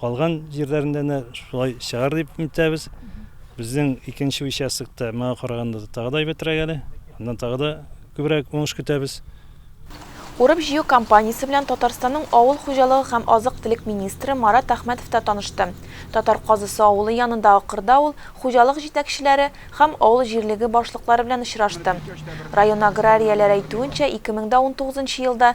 Калган җирләрендә дә шулай чыгар дип үтәбез. Безнең икенче участокта моңа караганда тагы да әйбәтрәк әле. Аннан тагы да күбрәк уңыш көтәбез. Урып-җыю кампаниясе белән Татарстанның авыл хуҗалыгы һәм азык-төлек министры Марат Әхмәтов та танышты. Татар Казысы авылы янындагы кырда ул хуҗалык җитәкчеләре һәм авыл җирлеге башлыклары белән очрашты. Район аграрияләре әйтүенчә, 2019 елда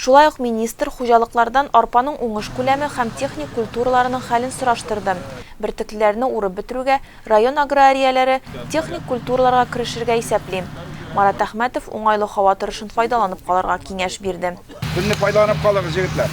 Шулай ук министр хуҗалыклардан арпаның уңыш күләме һәм техник культураларының хәлен сораштырды. Бөртеклеләрне урып бетерүгә район аграрияләре техник культураларга керешергә исәпли. Марат Әхмәтов уңайлы һава торышын файдаланып калырга киңәш бирде. Көнне файдаланып калыгыз, җегетләр!